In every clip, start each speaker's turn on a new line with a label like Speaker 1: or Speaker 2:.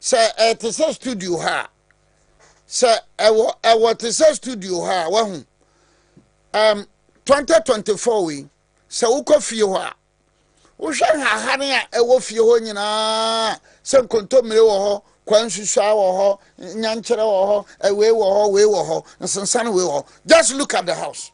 Speaker 1: sɛ ɛte sɛ studio ha a sɛ ɛwɔ ɛwɔ te sɛ studio ha a wahu um, 2024 wei sɛ wokɔ fie hɔ a wohwɛ nhahane a ɛwɔ fie hɔ nyinaa sɛ nkontommire wɔ hɔ kwan susua wɔ hɔ nyankyerɛ wɔ hɔ ɛwei wɔ hɔ wei wɔ hɔ nsensane wei wɔ hɔ just look at the house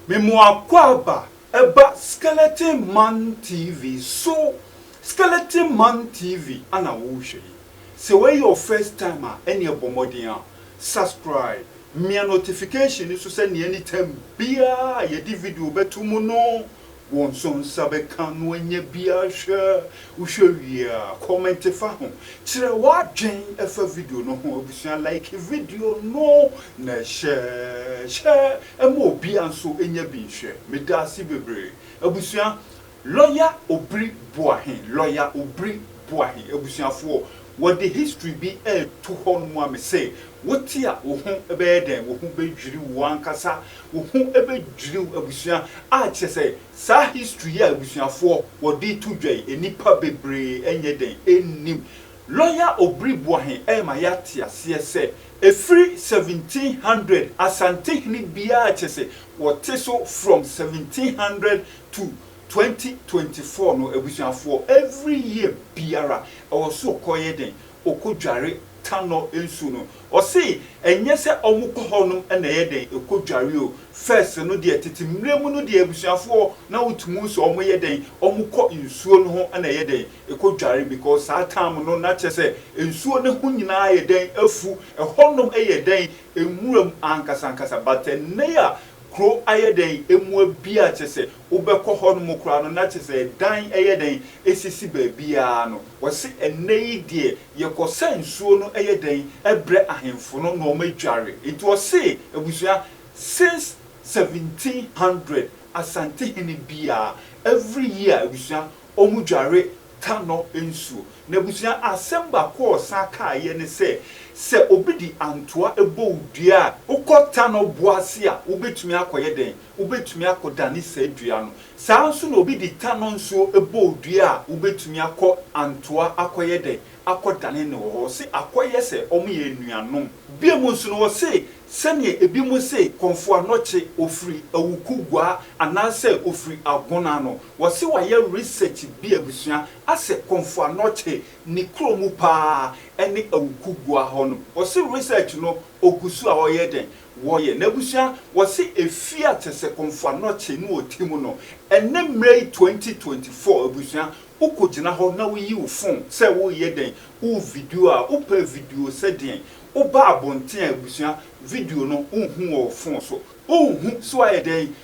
Speaker 2: Memoakwaaba ɛba skeleton man TV so skeleton man TV ana wohwɛ yi sɛ wei yɛ wo first time a ɛneɛ bɔ mmɔden a subscribe Mia notification no so sɛ nea anytime biara a yɛde video bɛto mu no, wo nso nsa bɛka no anya bi ahwɛ. Wohwɛ wie a, kɔmɛnte fa ho. Kyerɛ w'adwen fa video no ho. Abusua, like video no na hyɛ hyɛ ma obiara nso nya bi nhwɛ. Meda ase bebree. Abusua, Lɔya Obiri Boahe Lɔya Obiri Boahe abusuafoɔ, wɔde history bi reto hɔ nom ma me sɛ, wote a wo ho bɛyɛ dɛn? Wo ho bɛdwiri wo ankasa, wo ho bɛdwiri wo abusua a kyerɛ sɛ saa history yi a abusuafoɔ wɔde reto dwa yi, nnipa bebree ɛnyɛ dɛn nnim. Lɔya Obiri Boahe rema yɛate aseɛ sɛ, ɛfiri 1700 Asantehene biara kyerɛ sɛ wɔte so from 1700 to twenty twenty four no abusuafoɔ every year biara ɛwɔ so ɔkɔ yɛ dɛn ɔkɔ dware tanɔ nsuo no ɔse ɛnyɛ sɛ ɔmo kɔ hɔ nom na ɛyɛ dɛn ɛkɔ dware o first no deɛ tete mmerɛ mu no deɛ abusuafoɔ na wotumu sɛ ɔmo yɛ dɛn ɔmo kɔ nsuo no ho na ɛyɛ dɛn ɛkɔ dware because saa time no na kyɛ sɛ nsuo no ho nyinaa ayɛ dɛn afu ɛhɔ nom ɛyɛ dɛn nwura mu ankasa ankasa but ɛnnɛ yi a Kuro ayɛ dɛn mua bi a kyerɛ sɛ wobɛkɔ hɔ nom koraa no na kyerɛ sɛ ɛdan yɛ dɛn sisi baabiara no, wɔse ɛnnɛ yi deɛ yɛkɔ sɛ nsuo no yɛ dɛn brɛ ahemfo no na wɔadware. Nti wɔse abusua since seventeen hundred Asantehene biara every year abusua Ɔmo dware tanɔ nsuo. N'abusua asɛm baako a ɔsan kaeɛ ne sɛ, sɛ obi de antoa bɔ wo dua a wokɔ tanɔ boɔ ase a, wobɛtumi akɔyɛ dɛn? Wobɛtumi akɔdane saa dua no. Saa ara nso na obi de tanɔ nsuo bɔ wo dua a, wobɛtumi akɔ antoa akɔyɛ dɛn? Akɔdane no wɔ hɔ. Ɔse akɔyɛ sɛ wɔyɛ anuanom. Biom nso no ɔse, sɛdeɛ ebinom se kɔmfoanɔkye ɔfiri awukuguaa anaasɛ ɔfiri agona no, Wɔse wayɛ research bi abusua asɛ Komfo Anokye ne kuro mu paa ɛne Awuku Gua hɔ nom. Wɔse research no ogu so a ɔyɛ dɛn? Wɔyɛ. N'abusua wɔse efie a kyɛsɛ Komfo Anokye ne ɔte mu no ɛnɛ mmerɛ yi 2024 abusua wokɔ gyina hɔ na wo yi wo phone sɛ wo reyɛ dɛn? Wo video a wo pɛ video sɛ deɛn? Wo ba abonten a abusua video no wo nhu wɔ wo phone so. Wo nhu so ayɛ dɛn?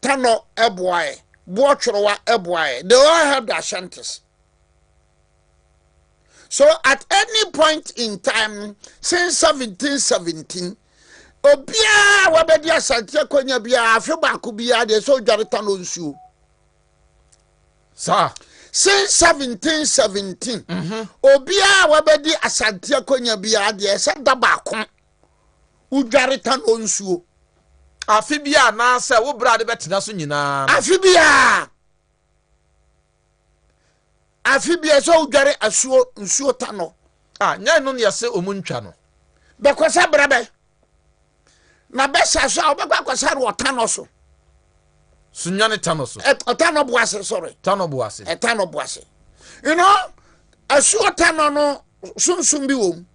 Speaker 1: Tanɔ boaeɛ, Boɔtworowa boaeɛ. They all helped the Ashantis. So at any point in time since 1717, obiara wabɛdi Asante akonya biara afe baako biara deɛ sɛ odware Tanɔ nsuo. Saa. Since 1717, mm-hmm. obiara wabɛdi Asante akonya biara deɛ sɛ da baako. wodware tanoo nsuo. Afe
Speaker 3: biara anaasɛ wo berɛ a wode bɛtena so nyinaa no. Afe biara,
Speaker 1: afe biara ɛsɛ sɛ wodware asuo nsuo tanɔ. A, nyɛ ɛno na
Speaker 3: yɛse wɔn ntwa no. Bɛkɔsa berɛ
Speaker 1: bɛn? Na bɛsa so a, wobɛkɔ akɔsare wɔ tanɔ so. So
Speaker 3: nwane tanɔ so. Ɛ, tanɔ bo ase, sorry.
Speaker 1: Tanɔ bo ase. Ɛ, tanɔ
Speaker 3: bo ase.
Speaker 1: You know, asuo tanɔ no sunsum bi wɔ mu.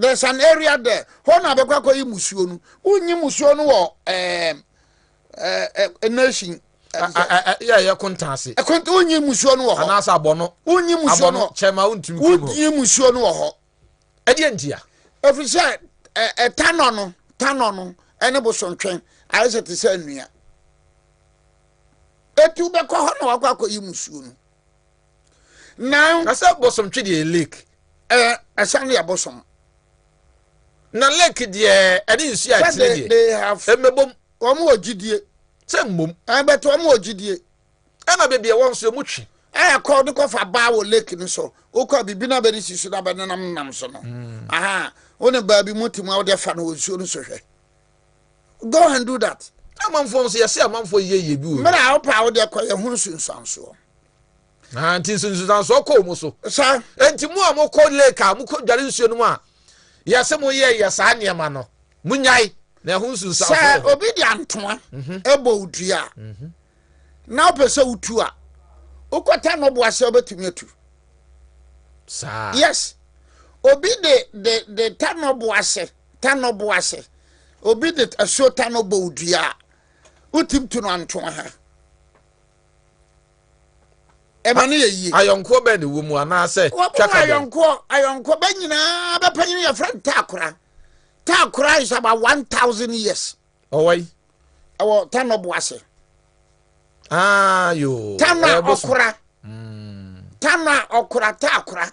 Speaker 1: there's an area there hɔ na abɛkɔ akɔyi musuo no wonyi musuo no wɔ ɛɛ ɛɛ nation. yɛ
Speaker 3: yɛ kontan ase. ɛkontan wonyi musuo
Speaker 1: no wɔ hɔ. anaasɛ abɔno. wonyi
Speaker 3: musuo no wɔ
Speaker 1: kyɛma wontumi kuro mu. wonyi
Speaker 3: musuo no wɔ hɔ.
Speaker 1: ɛdeɛ ntia.
Speaker 3: efiri sɛ
Speaker 1: ɛɛ tanɔ no tanɔ no ɛne bosontwɛn ayɛ sɛ te sɛ nnua etu bɛkɔ hɔ na wakɔ akɔyi musuo no. Now, I said bosom
Speaker 3: twi deɛ lake. Eh, ɛsan
Speaker 1: deɛ bosom.
Speaker 3: Na lake deɛ ɛne nsuo a ɛtene deɛ. Ɛmɛbom.
Speaker 1: Wɔn wɔ
Speaker 3: gyidie.
Speaker 1: Sɛ mmom.
Speaker 3: Ɛbɛtɛ wɔn wɔ
Speaker 1: gyidie. Ɛna beebi
Speaker 3: ɛwɔ nso emu twi. Ɛyɛ kɔ de kɔfa
Speaker 1: baa wɔ lake no so. Wokɔ a biribi na bɛde si so na bɛnenam nam so no. Hmm. Aha, wo ne baabi mu te mu a wode afa no wɔ nsuo no so hwɛ. Go and do that. Na amanfoɔ nso yɛse
Speaker 3: amanfoɔ yɛ yie bi wɔ. Mmerɛ a wopɛ a wodeɛ kɔ
Speaker 1: yɛ ho nsunsuansoɔ. Na
Speaker 3: nti nsunsuansoɔ kɔ mu so. Sa. Nti mu a
Speaker 1: mokɔ
Speaker 3: lake a mokɔ dware nsuo no mu a yɛse mo yɛ yɛ saa nneɛma no mo nyae na ɛho nsunsuansoɔ. Sɛ obi de antoa
Speaker 1: mhm. ɛbɔ odua mhm. na wopɛ sɛ wotu a wokɔta no boa sɛ wobɛtumi atu.
Speaker 3: Saa. Yes.
Speaker 1: Obi de de de ta no boa sɛ. tanɔ bo ase. Obi de asuo tanɔ bɔ wo dua a, wotumi tu no antoa ha. Ɛma no yɛ yie. Ayɔnkoɔ bɛn na ɛwɔ mu
Speaker 3: anaasɛ twaka bɛn? Ayɔnkoɔ ayɔnkoɔ
Speaker 1: bɛn nyinaa bɛpanyin no yɛfrɛ no taakora. Taakora is about one thousand years. Ɔwɔ yi.
Speaker 3: Ɛwɔ
Speaker 1: tanɔ bo ase. Aa ah,
Speaker 3: yoo. Tanɔ a ɔkora.
Speaker 1: Hmm. Tanɔ a ɔkora taakora.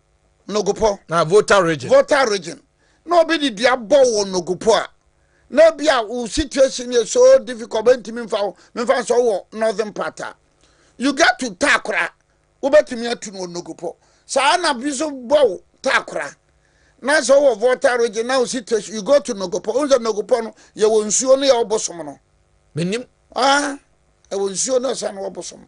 Speaker 1: nogopɔ na volta
Speaker 3: region volta region na obi de dua bɔ wo nogopɔ a na ebi a wo situation yɛ so difficult bɛntumi mfa wo memfa nsɛ wɔ northern part a you get to takora wobɛtumi atu no nogopɔ saa na bi so bɔ wo takora na sɛ wɔ volta region na wo situation you go to nogopɔ wo sɛ nogopɔ no yɛwɔ nsuo no yɛwɔ bosom no menim ah
Speaker 1: ɛwɔ nsuo no ɛsɛ no wɔ bosom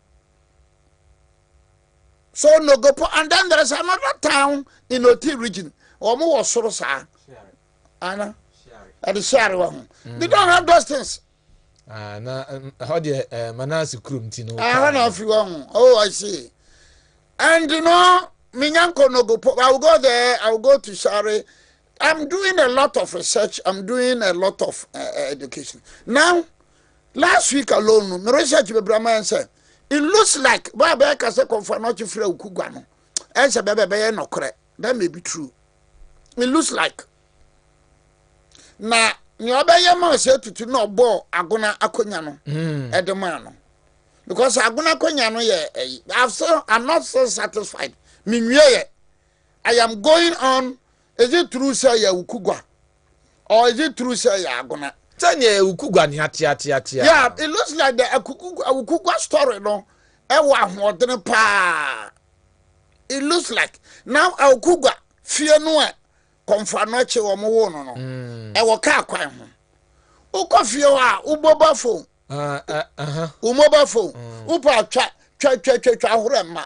Speaker 1: so nogopo and then there is another town in oti region wɔn wɔ soro saa ana ɛde share wɔ ho they don't have those things. Ah, na
Speaker 3: ɛhɔ deɛ eh, manase kurom ti no ɛhɔ ah, na afiri wɔ
Speaker 1: ho oh i see and you know minyanko nogopo i will go there i will go to share I'm doing a lot of research. I'm doing a lot of uh, education. Now, last week alone, my research be Brahman said, it looks like Baba Kasa Konfanochi Fre Ukugwano. And said, Bebe Beye no kre. That may be true. It looks like. Now, ni ọbẹyẹ ma ọsẹ tutu na ọbọ agona akonya no ẹdi hmm. ma no because agona akonya no yẹ ẹyi i'm still i'm not so satisfied mi nwie yẹ i am going on Is it true sɛ yɛ Ukugwa? Or is it true sɛ yɛ Agona? Sɛ neɛ yɛ Ukugwa
Speaker 3: nea teateatea. Yeah, it looks
Speaker 1: like the Ukugwa story no ɛwɔ ahoɔdene paa. It looks like na Ukugwa fie no ɛ kɔnfa no akyi wɔn woo no no mm. ɛwɔ kaa kwan ho. Wokɔ fie hɔ a wo mobile phone, ah, eh, uh-huh. wo mobile phone, mm. wopɛ atwa twa twa twa twa ahorɛ mma.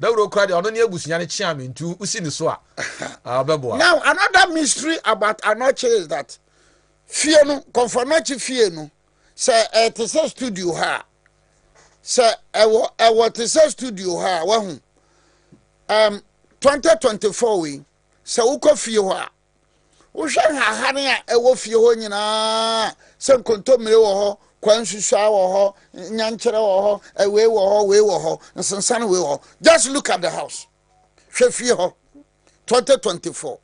Speaker 1: Dawuro kura deɛ
Speaker 4: ɔno ne abusua no kye a mentu si ne so a, ɔbɛboa. Now another
Speaker 1: mystery about Anokye is that fie no, Kɔmfo Anokye fie no, sɛ ɛte sɛ studio ha a, sɛ ɛwɔ ɛwɔ te sɛ studio ha a, wahu. Um, 2024 wei, sɛ wokɔ fie hɔ a, Wohwɛ nhahan a ɛwɔ fie hɔ nyinaa sɛ nkontommire wɔ hɔ, kwan nsusuaa wɔ hɔ, nyankyerɛ wɔ hɔ, wei wɔ hɔ, wei wɔ hɔ, nsensan wei wɔ hɔ. Just look at the house. Hwɛ fie hɔ. 2024.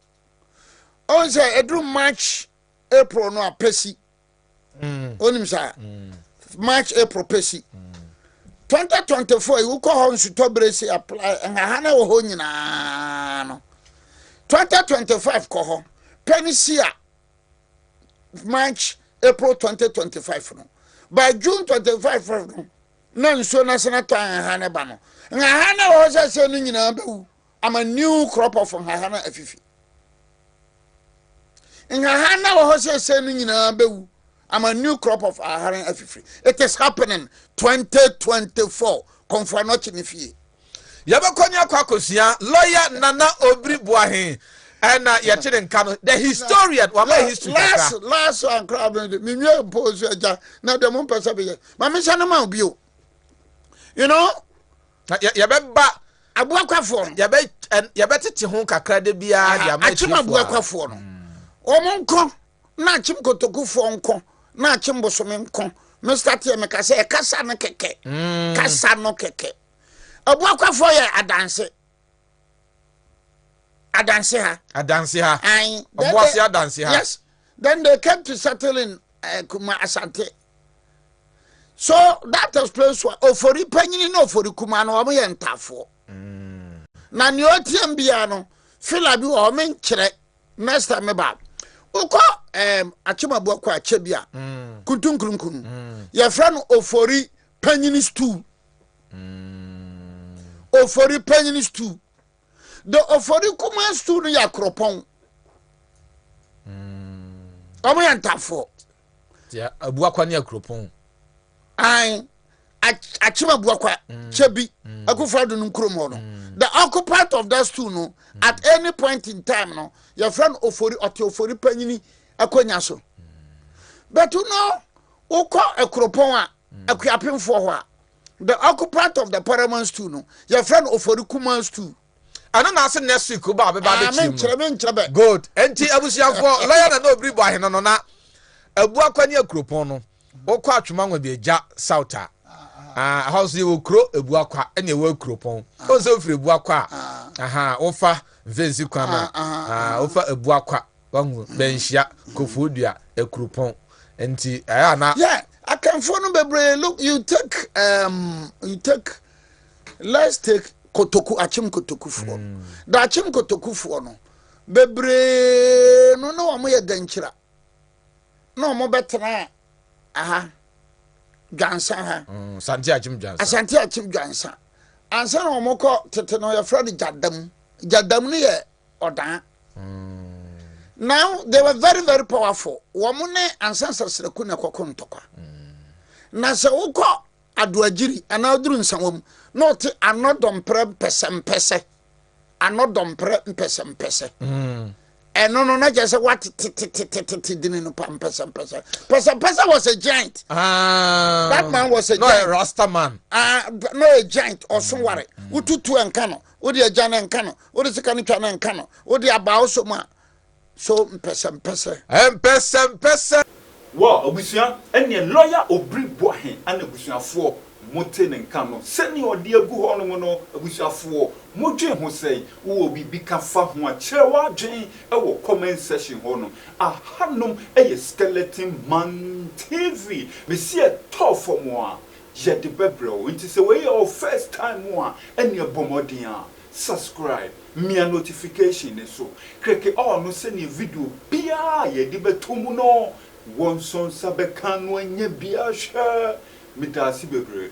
Speaker 1: Ɔn sɛ ɛduru March, April no a pɛ si. wonim mm. saa mm. march april pɛsi 2024 yi wokɔ hɔ nsutɔ berɛ si apply nhaha na wɔ hɔ nyinaa no 2025 kɔ hɔ pɛ no si a march april 2025 no by june 25 no na nsuo no asena tɔ nhaha ne ba no nhaha na wɔ hɔ sɛ sɛ no nyinaa bɛwu ama new crop of nhaha no afifi nhaha na wɔ hɔ sɛsɛ no nyinaa bɛwu ama new crop of nhaha no afifiri it is happening 2024 kɔmfoa no ɔkye ne fie yɛbɛkɔ ne
Speaker 4: akɔ akɔsua lawyer nana obiri boahe ɛna yɛte ne nka no the historian wama history kakra last last ankora
Speaker 1: no de menwie mpo so agya na deɛ mompɛ sɛ bɛyɛ ma mehyɛ no ma wo bio you know Na yɛ yɛbɛba.
Speaker 4: Aboakwafoɔ
Speaker 1: no. Yɛbɛ ɛn
Speaker 4: yɛbɛtete ho kakra da biara de ama atiefoɔ a. Akyem aboakwafoɔ no.
Speaker 1: Wɔn nko na akyem kotokufoɔ nko na akyem bosome nko. Mister Teɛ meka sɛ ɛkasa no kɛkɛ. Kasa no kɛkɛ. Aboakwafoɔ yɛ adanse. Adanse ha. Adanse ha. Ayin. Ɔboase adanse ha.
Speaker 4: Yes. Then they
Speaker 1: came to settle in uh, Kuma Asante. So that explains why ofori panyini na ofori kuma no wɔn yɛ ntafoɔ. Mm. Na nea ɔtiam biara no fila bi wɔ wɔn nkyerɛ next time meba wokɔ um, akyemabu akɔ akyɛ bi a mm. kuntunkurunkun mm. yɛfrɛ no ofori panyini stool. Mm. Ofori panyin stew. The ofori kuma stew no yɛ akoropɔn. Mm. Wɔn yɛ ntafoɔ. Yɛ
Speaker 4: abuakwa ne akoropɔn. Ayi
Speaker 1: akyem abuakwa mm. kyɛ bi mm. akufra do no nkurom hɔ no. Mm. The occupant of that stew no mm. at any point in time no yɛfrɛ no ofori ɔte ofori panyin akonnwa so. Mm. But no wokɔ akuropɔn a. Akuapemfoɔ hɔ a, the occupant of the paramount stool no, yɛfrɛ no Ofori Kumaa stool. Ɛno na ase
Speaker 4: next week wobaa beba bɛkyerɛ mu. Ah, menkyerɛ, menkyerɛ bɛ.
Speaker 1: Good.
Speaker 4: Enti abusuafoɔ, lɔya na na obiri bɔ ahene no na abu akwa ne akuropɔn no. Wokɔ atwema nwa bi agya south a, ah, ɛhɔ nso yɛwɔ kuro ebu akwa ɛna ɛwɔ akuropɔn. Wɔn sɛ wofiri ebu akwa a, aha, wofa mfensi kwan a, ah, wofa ebu akwa. Wahu dɛ nhyia kofoo dua ekurupɔn ntsi ɛyɛ a na. Yɛ Akanfoɔ
Speaker 1: no bebree look you take um, you take let's take kotoku akyem kotokufoɔ mm. da akyem kotokufoɔ no bebree no na wɔn yɛ dɛnkyira na wɔn bɛtena aha dwansa ha mm, asante akyem dwansa
Speaker 4: asante akyem dwansa
Speaker 1: ansa na wɔn kɔ tete no yɛfrɛ no gyadam gyadam no yɛ ɔdaa. Now they were very very powerful. Wɔn ne ansa nsɛsrɛku na ɛkɔko ntɔkwa. Na sɛ wokɔ adoagyiri anaa oduru nsawa mu na ɔte anɔdɔmprɛ mpɛsɛmpɛsɛ anɔdɔmprɛ mpɛsɛmpɛsɛ ɛno no na kyerɛ sɛ watetetetetete dini no pa mpɛsɛmpɛsɛ pɛsɛmpɛsɛ was a giant ah. that man was a no, giant rasta man uh,
Speaker 4: no a
Speaker 1: giant ɔso ware wotutu ɛnka no Wode agya na nka no. Wode sika no twa na nka no. Wode aba wo so ma so mpɛsɛmpɛsɛ. Mpɛsɛmpɛsɛ.
Speaker 2: Wɔ abusua ɛneɛ lɔya obiri boa he ana abusuafoɔ mo te ne nka no sɛnea ɔde agu hɔ nom no abusuafoɔ mo dwen ho sɛn wowɔ biribi ka fa ho a kyerɛ w'adwen wɔ comment section hɔ nom aha nom yɛ skeleton man TV mesi ɛtɔɔ fam a Yɛde bɛbrɛ wo nti sɛ wei yɛ wo first time a ɛneɛ bɔ mmɔden a subscribe mia notification no so krɛke all no sɛneɛ video biaa a yɛde bɛto mu no wɔ nsonsa bɛka no anya bi ahwɛ medaase bebree.